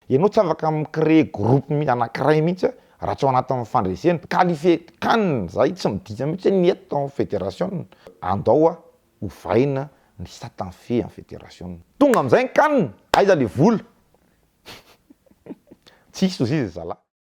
Ianao tsy afaka mi-créer groupe anankiray mihitsy raha tsy ao anatin'ny fandresena. Qualifier can zay tsy midika mihitsy hoe ny eto tao amin'ny federation. Andao ovaina ny satan fe amin'ny federation. Tonga amin'izay ny can, aiza le vola? Tsisy ozizy ry zalahy.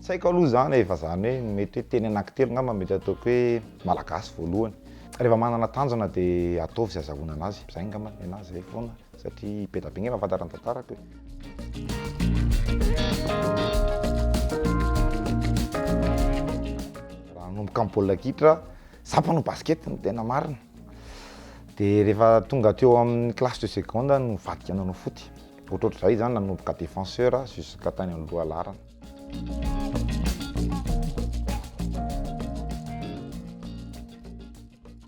Tsy haiko aloha izany e, fa izany hoe mety hoe teny anankitelo angamba no mety ataoko hoe malagasy voalohany. Rehefa manana tanjona dia ataovy izay azahoana anazy. Izay angamba ny anahy, izay foana satria be dia be angamba ny fantatra ny tantarako e. Raha hanomboka amin'ny baolina kitra, izaho mpanao basket ny tena marina. Dia rehefa tonga teo amin'ny classe de seconde aho no nivadika nanao foot. Ohatrohatr'izay izany nanomboka défenseur jusqu'à tany amin'ny lohalaharana.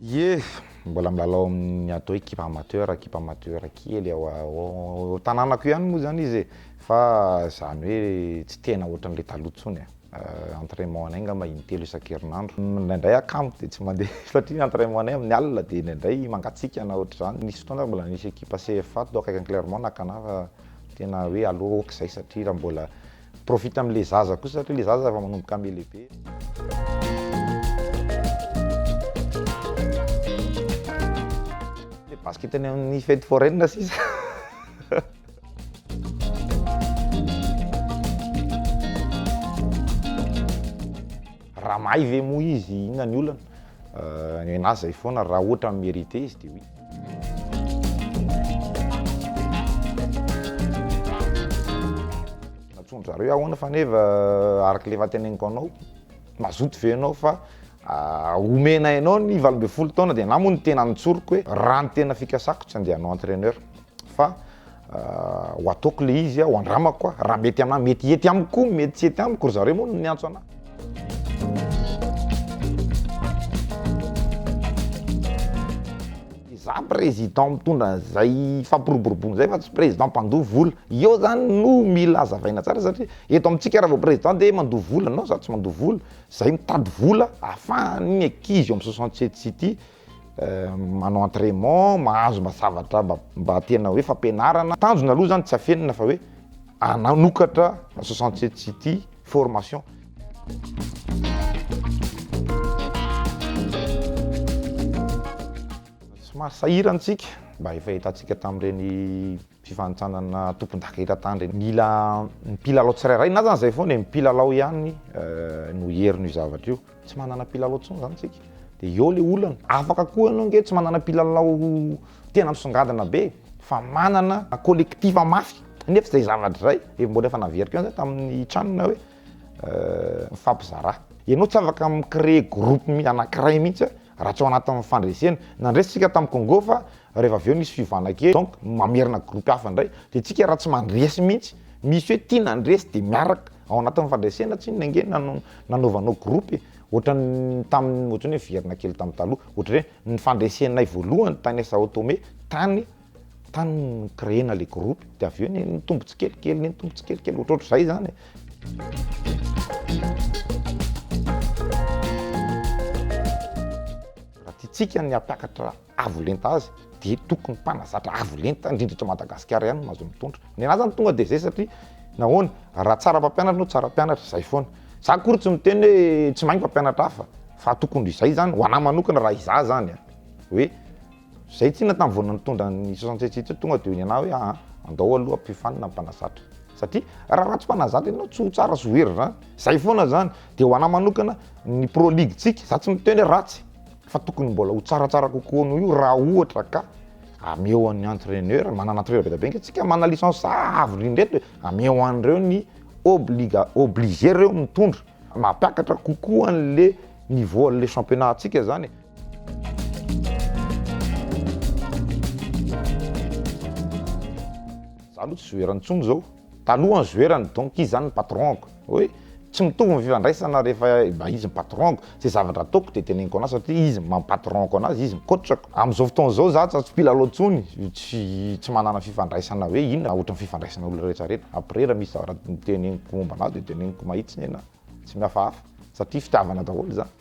Ye, mbola milalao amin'ny atao hoe kipa amateur, kipa amateur kely ao ao tanànako ihany moa zany izy e. Fa zany hoe tsy tena ohatran'ilay taloha intsony e. Euh, entraînement anay angamba intelo isan-kerinandro. Indraindray akamo dia tsy mandeha satria entraînement anay amin'ny alina dia indraindray mangatsiaka na ohatr'izany. Nisy fotoana aho mbola nisy ekipa CFA tao akaikin'i Clermont nakana fa Tena hoe aleo ok zay satria raha mbola profite am le zaza kosa satria le zaza efa manomboka mi lehibe. Basket any amin'ny fety foraine sisa. Raha mahay ve moa izy, inona ny olana? Ny ahy zay foana, raha ohatra mi-merite izy dia oui. Natsoin-dry zareo hoe ahoana faneva araka ilay efa teneniko anao, mazoto ve ianao fa ah, omena ianao ny valo ambin'ny folo taona dia na moa ny tena notsoriko hoe raha ny tena fikasako tsy andeha hanao entraîneur. fa ho ataoko le izy ho andramako raha mety anah mety hety amiko koa mety tsy hety amiko ry zareo moa no niantso anah za président mitondra an'izay fampiroboroboana izay fa tsy président mpandoa vola eo zany no mila hazavaina tsara satria eto amintsika raha vao président dia mandoa vola non za tsy mandoa vola zay mitady vola afahany ny ankizy eo amin'ny soixante sept city manao entrainement, mahazo mba zavatra mba tena hoe fampianarana. Tanjona aloha zany tsy afenina fa hoe hanokatra soixante sept city formation. Somary sahirana isika mba efa hitantsika tamin'ireny. fifanintsanana tompondaka eran-tany, mila ny mpilalao tsirairay na zany zay foana e, ny mpilalao ihany no hieriny io zavatra io, tsy manana mpilalao intsony zany tsika de eo le olana, afaka koa ianao nge tsy manana mpilalao tena misongadina be fa manana collectif mafy nefa zay zavatra zay efa mbola efa naveriko ihany zay tamin'ny tranona hoe mifampizarà, ianao tsy afaka mi-creer groupe anakiray mihitsy hoe Raha tsy ao anatin'ny fandresena, nandresy tsika tamin'ny Congo fa rehefa avy eo nisy fiovana kely donc mamerina groupe hafa indray de tsika raha tsy mandresy mihitsy, misy hoe tia nandresy de miaraka ao anatin'ny fandresena tsy inona ange nano- nanaovanao groupe e! ohatran'ny tamin'ny ohatran'ny hoe miverina kely tamin'ny taloha, ohatran'ny hoe ny fandresenay voalohany tany Sao Tome tany Tany no ni-créer-na ilay groupe, dia avy eo nitombo tsikelikely, nitombo tsikelikely, ohatrohatr'izay izany e. Raha tiantsika ny hampiakatra avo lenta azy dia tokony mpanazatra avo lenta, indrindra eto Madagasikara ihany no azo mitondra. Ny anà izany tonga dia izay satria nahoana? Raha tsara mpampianatra ianao, tsara mpianatra, izay foana. Za akory tsy miteny hoe tsy mahay ny mpampianatra hafa fa tokony izay izany, ho anà manokana raha izaho izany hoe. Zay tsinona tam vao nitondra ny soixante sept ity tonga de nianaha hoe aa andao aloha ampifanina ny mpanazatra satria raha ratsy mpanazatra ianao tsy ho tsara sy ho hery zany zay foana zany de ho anah manokana ny pro league tsika za tsy miteny hoe ratsy fa tokony mbola ho tsaratsara kokoa noho io raha ohatra ka ameo an'ny entraineur manana entraineur be da be nge tsika manana licence avo indrindra eto e ameo an'ireo ny obliga- obligé reo mitondra mampiakatra kokoa an'le niveau an'le championnat tsika zany e. Za aloha tsy zoerany tsony zao. Taloha ny zoerany donc izy zany ny patron-ko. Hoe tsy mitovy ny fifandraisana rehefa mba izy ny patron-ko. Ze zavatra ataoko de teneniko anazy satria izy no mampatron-ko anazy, izy no coach-ko. Am'zao fotoana zao za tsa tsy mpilalao tsony, tsy tsy manana fifandraisana hoe inona ohatry ny fifandraisana olona rehetra rehetra. Après ra misy zavatra teneniko momba anazy de teneniko mahitsy nena, tsy mihafahafa satria fitiavana daholo zany.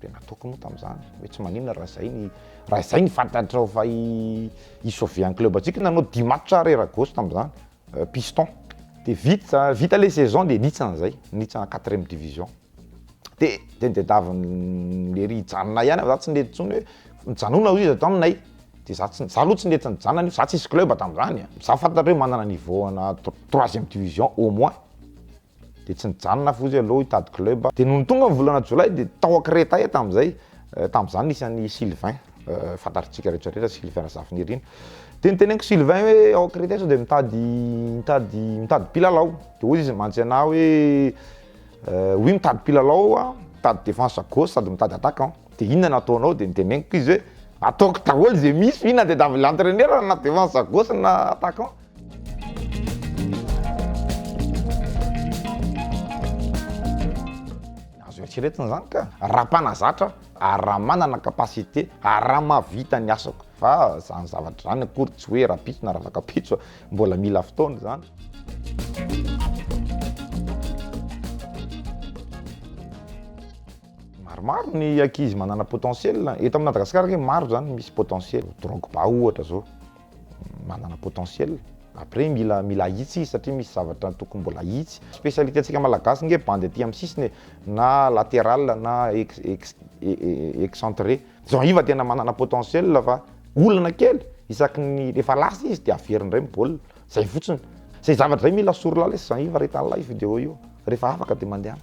Dia nataoko moa tamin'izany hoe tsy maninona raha izay ny raha izay ny fantatrao fa i i sauver ny club antsika nanao dimy match ary raha gauche tamin'izany piston dia vita vita ilay saison dia nihintsana izay nihintsana quatrième division dia dia ny diadavin'ny lery hijanona ihany fa za tsy nety intsony hoe mijanona hoy izy ato aminay dia za tsy za aloha tsy nety nijanona io za tsisy club tamin'izany a za fantatra hoe manana niveau ana troisième division au moins Dia tsy nijanona aho fotsy aloha hitady club. Dia nony tonga ny volana jolay dia tao Akreta ahy tamin'izay. Tamin'izany nisy an'i Sylvain, fantatritsika rehetra rehetra Sylvain Razafinirina. Dia niteneniko Sylvain hoe ao Akreta aho sao dia mitady mitady mitady mpilalao. Dia hoy izy mantsy anah hoe oui mitady mpilalao aho, mitady défense à gauche sady mitady attaquant. Dia inona no ataonao? Dia niteneniko izy hoe ataoko daholo izay misy fa inona dia davy l'entraineur na défense à gauche na attaquant. Azo eritreretina izany ka! Raha mpanazatra ary raha manana capacité ary raha mahavita ny asako. Fa izany zavatra izany akory tsy hoe rahampitso na ravakampitso, mbola mila fotoana izany. Maromaro ny ankizy manana potentiel. Eto amin'i Madagasikara ange maro izany misy potentiel. Drogba ohatra izao. manana potentiel après mila mila ahitsy izy satria misy zavatra tokony mbola ahitsy spécialité antsika malagasy nge bandy aty amin'ny sisiny e na latéral na ex ex excentré jean iva tena manana potentiel fa olana kely isaky ny rehefa lasa izy de averiny ndray ny baolina zay fotsiny zay zavatra zay mila sorilalesy jean iva ry tanalahy io vidéo io rehefa afaka de mandehana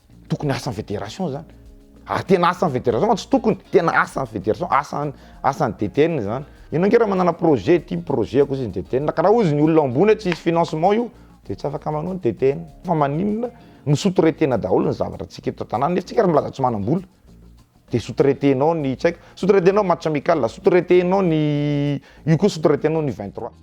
Tokony asan'ny fédération zany. Ary tena asan'ny fédération fa tsy tokony, tena asan'ny fédération, asan'ny asan'ny DTN izany. Ianao ange raha manana projet, ity ny projet-ko hozy ny DTN, ka raha hozy ny olona ao ambony hoe tsy hisy financement io dia tsy afaka manao ny DTN. Fa maninona no sous-traiter-na daholo ny zavatra antsika eto an-tanàna nefa tsika ary milaza tsy manam-bola. Dia sous-traiter nao ny tsy haiko, sous-traiter nao match amical, sous-traiter nao ny io koa sous-traiter nao ny vingt trois.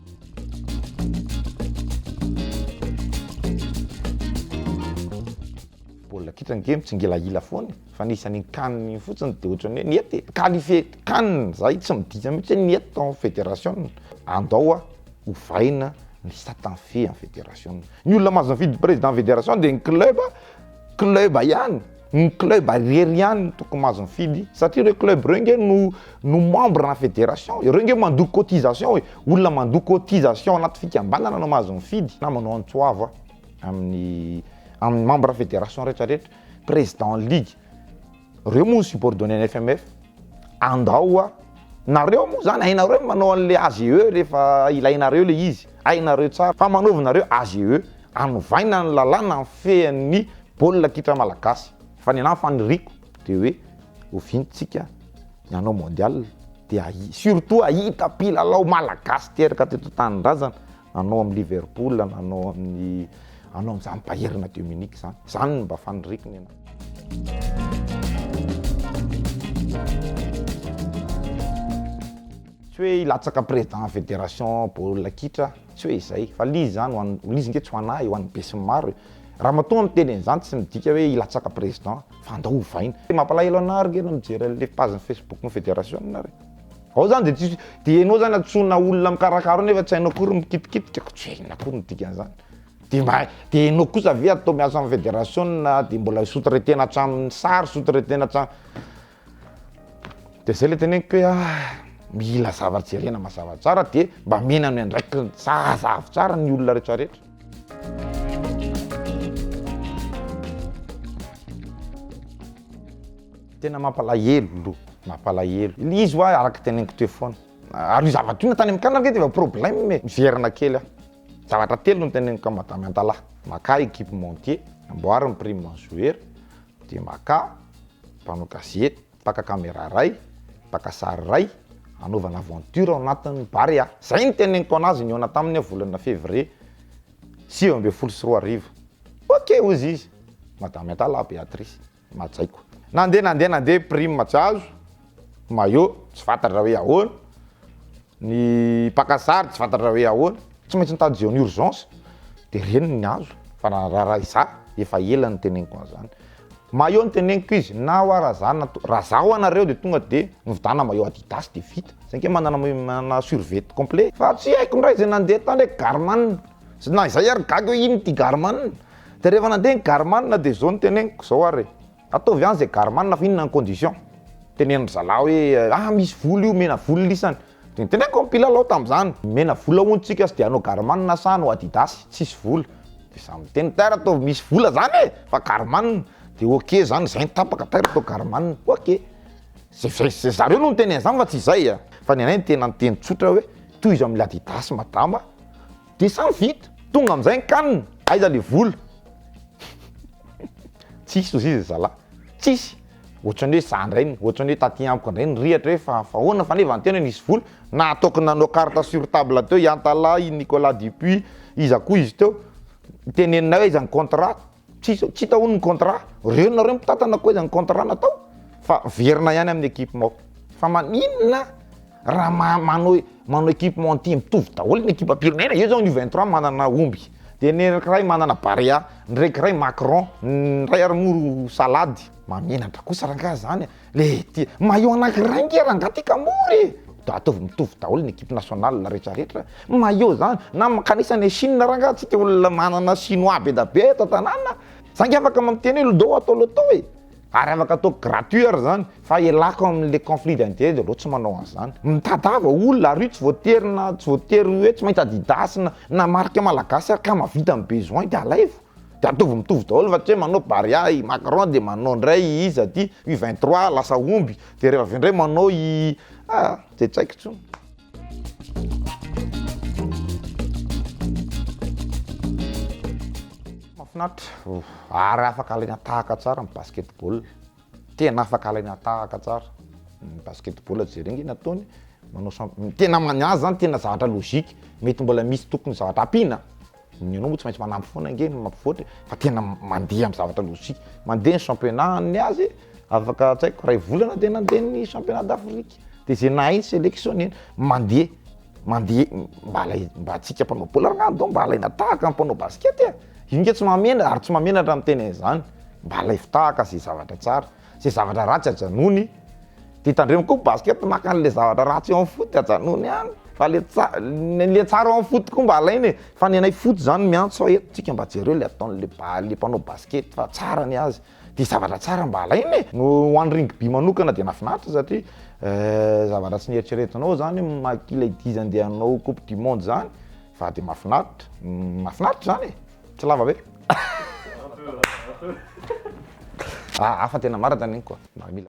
Baolina kitra ange mitsingilahila foana e, fa ny isan'iny can iny fotsiny dia ohatran'ny hoe niety e, qualifier can zahay tsy midika mihitsy hoe niety tao amin'ny federasiona, andao a ovaina ny satan-fe an'ny federasiona, ny olona mahazo ny vidy président federation dia ny club, club ihany. Ny club irery ihany no tokony mahazo mifidy satria ireo club ireo nge no no membre na federation, ireo nge mandoa cotisation e, olona mandoa cotisation anaty fikambanana no mahazo mifidy na manao antso avo amin'ny amin'ny membre federation retraretra, president ligue, reo moa no subordonne ny FMF. Andao a! Nareo moa zany hainareo ny manao an'le AGE rehefa ilainareo le izy, hainareo tsara fa manaovinareo AGE, anovaina ny lalàna mifehy an'ny baolina kitra malagasy, fa ny anahy faniriako de hoe oviana tsika ny hanao mondial de ahi, surtout ahita mpilalao malagasy teraka teto an-tanindrazana nanao amin'ny Liverpool, nanao amin'ny hanao amin'izany Bayern de Munich zany, zany no mba faniriako ny anahy. Tsy hoe hilatsaka président fédération baolina kitra, tsy hoe izay, fa l'izy zany ho an'ny, l'izy nge tsy ho an'ahy, ho an'ny besinimaro e. Ramatoa miteny an'izany tsy midika hoe hilatsaka président, fa andao ovaina. Mampalahelo anah ary nge raha mijery an'le page Facebook-n'ny fédération nareo. Ao zany de tsisy, de enao zany antsoina olona mikarakara eo nefa tsy hainao akory mikitikitika, ko tsy hay inona akory ny dikan'izany. Dia mba dia enao kosa ve atao miasa amin'ny federasiona dia mbola sous-traiter-na hatramin'ny sary, sous-traiter-na hatramin'ny. Dia zay le teneniko hoe ah, mila zavatra jerena mazava tsara dia mba amena ny andraikiny zazavy tsara ny olona retraretra. Tena mampalahelo, mampalahelo. Ilay izy ho'a araka ny teneniko teo foana. Ary io zavatra io na tany amin'ny camp ary ve dia efa problème e, miverina kely aho. Zavatra telo no teneniko amin'i Madame Antalaha, makà équipementier, amboary ny prime an'i Zoera, dia makà mpanao gazety, mpaka camera iray, mpaka sary iray, hanaovana aventure ao anatin'ny Barea. Izay no teneniko an'azy nihaona taminy aho volana février sivy ambin'ny folo sy roa arivo. Ok hozy izy, Madame Antalaha Béatrice. Majaiko. Nandeha nandeha nandeha prime tsy azo, maillot tsy fantatra hoe ahoana, ny mpaka sary tsy fantatra hoe ahoana, tsy maintsy nitady zone urgence de reny no niazo fa raha raha iza efa ela no teneniko an'izany. Maillot no teneniko izy na hoa raha za na raha za hoa nareo de tonga de mividana maillot adidas de vita, za ange manana manana survette complet fa tsy haiko ndray zay nandeha tany hoe garman, na izay ary gaga hoe ino ty garman, De rehefa nandeha ny garman de zao no teneniko zao ary ataovy any zay garman fa inona ny condition teneno ry zalahy hoe ah misy vola io omena vola isany de noteneniko ny mpilalao tamzany omena vola hono tsika sy de anao garman sa anao adidas tsisy vola de za miteny taira ataovy misy vola zany e fa garman de ok zany zay no tapaka taira atao garman ok ze ze ze zareo no niteny anzany fa tsy zay a fa ny anay ny tena niteny tsotra hoe tohizo amle adidas madama Dia sa vita? Tonga amin'izay ny can, aiza ilay vola? Tsisy hoy izy zalahy, tsisy! Ohatran'ny hoe za indray, ohatran'ny hoe taty amiko indray nirehatra hoe fa fa ahoana fa anie vaniteny hoe nisy vola, na ataoko nanao carte sur table teo i Antalaha, i Nicolas Dupuis, iza koa izy teo, teneninay hoe aiza ny contrat? Tsisy tsy hita hono ny contrat, reo nareo mitantana koa aiza ny contrat natao fa verina ihany amin'ny équipement. Fa maninona raha ma- manao e- manao équipement entier mitovy daholo ny ekipam-pirenena, eo zao ny U 23 manana omby, de ny anankiray manana barea, ny anankiray macron, ny iray ary moa ro salady, mahamenatra kosa rangaha zany a! Le ty, maillot anankiray nge rangah ty ka mora e! Da ataovy mitovy daholo ny equipe nationale retraretra, maillot zany na makanisa any Chine rangah, tsika olona manana chinois be da be eto an-tanàna, za nge afaka miteny hoe lodoo atao lotoo e! ary afaka atao gratuit ary zany fa ialako am le conflit d'interet aleo tsy manao an'zany, mitadiava olona ary io tsy voatery na tsy voatery hoe tsy maintsy adidas na na marque malagasy ary ka mahavita ny besoin de alaivo. Dia ataovy mitovy daholo fa tsy hoe manao bary ahy i Macron dia manao indray i iza aty, U 23 lasa omby, dia rehefa avy eo indray manao i ah! Dia tsy haiko intsony. Mahafinaritra, ary afaka alaina tahaka tsara ny basketball, tena afaka alaina tahaka tsara ny basketball, jereo nge ny ataony, manao champ- tena aminazy zany tena zavatra logique, mety mbola misy tokony zavatra ampiana. Ny anao moa tsy maintsy manampy foana ange ny mampivoatra e, fa tena mandeha amin'ny zavatra lojika. Mandeha ny championnat ny azy afaka tsy haiko iray volana dia nandeha ny championnat d'Afrique, dia izay nahay ny sélection neny. Mandeha, mandeha, mba alay, mba antsika mpanao baolina ary angamba mba alaina tahaka ny mpanao basket e! Io nge tsy mahamenatra ary tsy mahamenatra ny miteny an'izany, mba alaivo tahaka izay zavatra tsara. Ze zavatra ratsy ajanony de tandremo koa basket maka anle zavatra ratsy eo am foot ajanony any fa le tsara le tsara eo am foot koa mba alaina e fa ny anay foot zany miantso ahy eto tsika mba jereo le ataonle le mpanao basket fa tsara ny azy de zavatra tsara mba alaina e no ho any rugby manokana de nafinaritra satria zavatra tsy neritreretinao zany hoe maki le dizany de hanao coupe du monde zany fa de mafinaritra mafinaritra zany e. Tsy lava be? Ah, hafa tena marina zany igny koa. Mba mila.